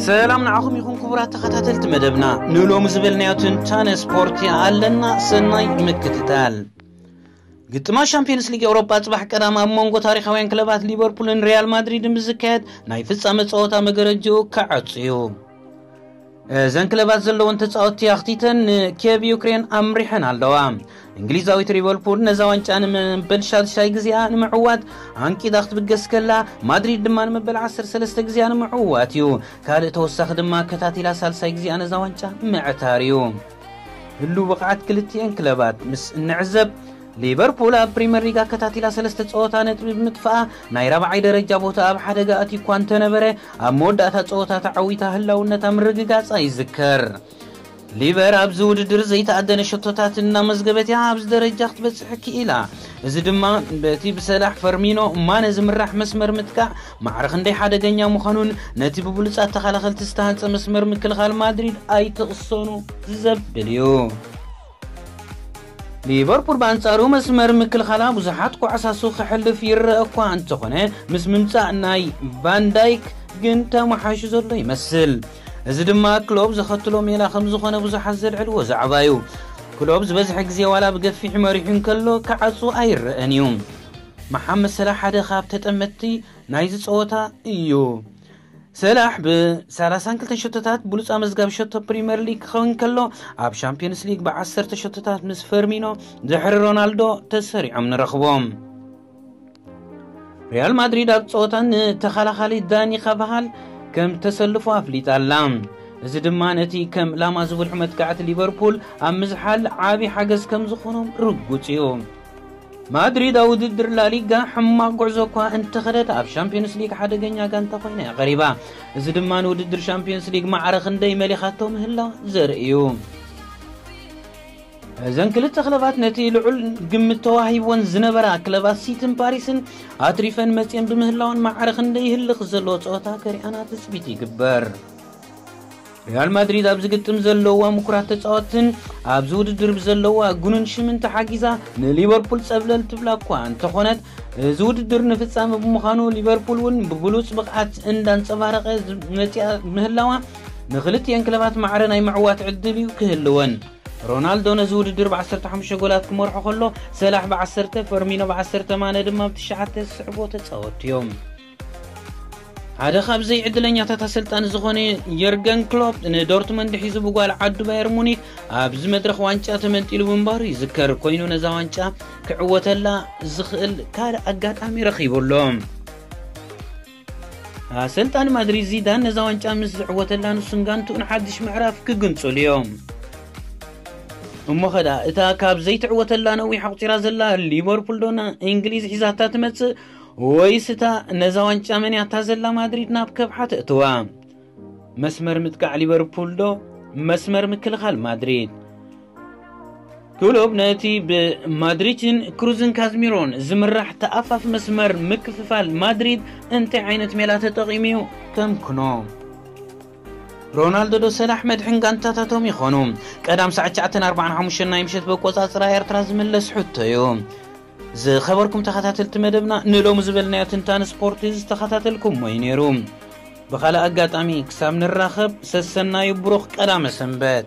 ሰላም ንዓኹም ይኹን ክቡራት ተኸታተልቲ መደብና ንሎሚ ዝበልናዮ ትንታነ ስፖርቲ ኣለና ሰናይ ምክትታል ግጥማ ሻምፒየንስ ሊግ ኤውሮጳ ጽባሕ ቀዳማ ኣብ መንጎ ታሪኻውያን ክለባት ሊቨርፑልን ሪያል ማድሪድን ብዝካየድ ናይ ፍጻመ ጸወታ መገረጅኡ ክዓጹ እዩ እዘን ክለባት ዘለወን ተጻወትቲ ኣኽቲተን ንኬብ ዩክሬን ኣምሪሐን ኣለዋ። እንግሊዛዊት ሊቨርፑል ነዛ ዋንጫ ንመበል ሻድሻይ ግዜኣ ንምዕዋት ዓንቂዳ ክትብገስ ከላ፣ ማድሪድ ድማ ንመበል ዓሰርተ ሰለስተ ግዜኣ ንምዕዋት እዩ። ካልእ ተወሳኺ ድማ ከታቲላ ሳልሳይ ግዜኣ ነዛ ዋንጫ ምዕታር እዩ። ህሉው ብቕዓት ክልቲኤን ክለባት ምስ እንዕዘብ ሊቨርፑል ኣብ ፕሪመር ሊግ ኣከታቲላ ሰለስተ ጸወታ ነጥቢ ብምጥፍኣ ናይ ራብዓይ ደረጃ ቦትኣ ኣብ ሓደጋ ኣትዩ'ኳ እንተነበረ፣ ኣብ መወዳእታ ጸወታ ተዓዊታ ህላውነታ ምርግጋጻ ይዝከር። ሊቨር ኣብዚ ውድድር ዘይተኣደነ ሸቶታት እናመዝገበት'ያ ኣብዚ ደረጃ ክትበጽሕ ክኢላ። እዚ ድማ በቲ ብሰላሕ፣ ፈርሚኖ፣ ማነ ዝምራሕ መስመር ምጥቃዕ ማዕረ ክንደይ ሓደገኛ ምዃኑን ነቲ ብብሉጻት ተኸላኸልቲ ዝተሃንጸ መስመር ምክልኻል ማድሪድ ኣይትቕሰኑ ዘብል እዩ። ሊቨርፑል ብኣንጻሩ መስመር ምክልኻላ ብዙሓት ኳዕሳሱ ክሕልፍ ይረአ እኳ እንተኾነ ምስ ምምጻእ ናይ ቫንዳይክ ግን ተመሓይሹ ዘሎ ይመስል። እዚ ድማ ክሎብ ዘኸትሎ ሜላ ከም ዝኾነ ብዙሓት ዘልዕልዎ ዛዕባ እዩ። ክሎብ ዝበዝሐ ግዜ ዋላ ብገፊሕ መሪሑ እንከሎ ክዓጹ ኣይረኣን እዩ። መሓመድ ሰላሕ ሓደ ካብ ተጠመትቲ ናይዚ ጸወታ እዩ። ሰላሕ ብ ሰላሳን ክልተን ሸቶታት ብሉጽ ኣመዝጋቢ ሸቶ ፕሪምየር ሊግ ክኸውን ከሎ ኣብ ሻምፕዮንስ ሊግ ብ ዓሰርተ ሸቶታት ምስ ፈርሚኖ ድሕሪ ሮናልዶ ተሰሪዖም ንረኽቦም። ሪያል ማድሪድ ኣብ ጸወታ ንተኸላኻሊ ዳኒ ካቫሃል ከም ተሰልፎ ኣፍሊጣ ኣላ እዚ ድማ ነቲ ከም ላማ ዝብልሑ መጥቃዕቲ ሊቨርፑል ኣብ ምዝሓል ዓብዪ ሓገዝ ከም ዝኾኖም ርጉጽ እዩ ማድሪድ ኣብ ውድድር ላሊጋ ሕማቕ ጉዕዞ እኳ እንተኸደት ኣብ ሻምፒዮንስ ሊግ ሓደገኛ ጋንታ ኮይና እያ ቀሪባ። እዚ ድማ ንውድድር ሻምፒዮንስ ሊግ ማዕረ ክንደይ መሊኻቶ ምህላ ዘርኢ እዩ። እዘን ክልተ ክለባት ነቲ ልዑል ግምት ተዋሂብወን ዝነበራ ክለባት ሲትን ፓሪስን ኣትሪፈን መፅን ብምህላወን ማዕረ ክንደይ ይህልኽ ዘለዎ ፀወታ ከሪኣና ትፅቢት ይግበር። ሪያል ማድሪድ ኣብዚ ግጥም ዘለዋ ምኩራት ተጻወትን ኣብዚ ውድድር ብዘለዋ ግኑን ሽምን ተሓጊዛ ንሊቨርፑል ጸብለል ትብላ እኳ እንተኾነት እዚ ውድድር ንፍጻመ ብምዃኑ ሊቨርፑል እውን ብብሉጽ ብቕዓት እንዳንጸባረቐ መጺኣ ምህላዋ ንክልቲኤን ክለባት ማዕረ ናይ ምዕዋት ዕድል እዩ ክህልወን። ሮናልዶ ነዚ ውድድር ብ15 ጎላት ክመርሖ ከሎ ሰላሕ ብ10 ፈርሚኖ ብ10 ማነ ድማ ብ9 ዝስዕቦ ተጻወትቲ እዮም። ሓደ ካብ ዘይዕድለኛታት ኣሰልጣኒ ዝኾነ የርገን ክሎፕ ንዶርትመንድ ሒዙ ብጓል ዓዱ ባየር ሙኒክ ኣብዚ መድረኽ ዋንጫ ተመንጢሉ ምንባሩ ይዝከር ኮይኑ ነዛ ዋንጫ ክዕወተላ ዝኽእል ካልእ ኣጋጣሚ ረኺቡ ኣሎ ኣሰልጣኒ ማድሪድ ዚዳን ነዛ ዋንጫ ምስ ዝዕወተላ ንሱን ጋንትኡን ሓድሽ ምዕራፍ ክግንጽሉ እዮም እሞ ኸዳ እታ ካብ ዘይትዕወተላ ነዊሕ ኣቑፂራ ዘላ ሊቨርፑል ዶና እንግሊዝ ሒዛታ ትመፅእ ወይስ እታ ነዛ ዋንጫ መንያታ ዘላ ማድሪድ ናብ ከብሓ ተእትዋ? መስመር ምጥቃዕ ሊቨርፑል ዶ መስመር ምክልኻል ማድሪድ? ክሎፕ ነቲ ብማድሪችን ክሩዝን ካዝሚሮን ዝምራሕ ተኣፋፍ መስመር ምክፍፋል ማድሪድ እንታይ ዓይነት ሜላ ተጠቒሙ እዩ ከምክኖ? ሮናልዶ ዶ ሰላሕ መድሕን ጋንታታቶም ይኾኑ? ቀዳም ሰዓት 9:45 ናይ ምሸት በቆጻጽራ ኤርትራ ዝምለስ ሕቶ እዩ። ዝኸበርኩም ተኸታተልቲ መደብና ንሎሚ ዝበልናዮ ትንታነ ስፖርቲ ዝተኸታተልኩሞ እዩ ነይሩ። ብኻልእ ኣጋጣሚ ክሳብ ንራኸብ ሰሰናዩ ብሩኽ ቀዳመ ሰንበት።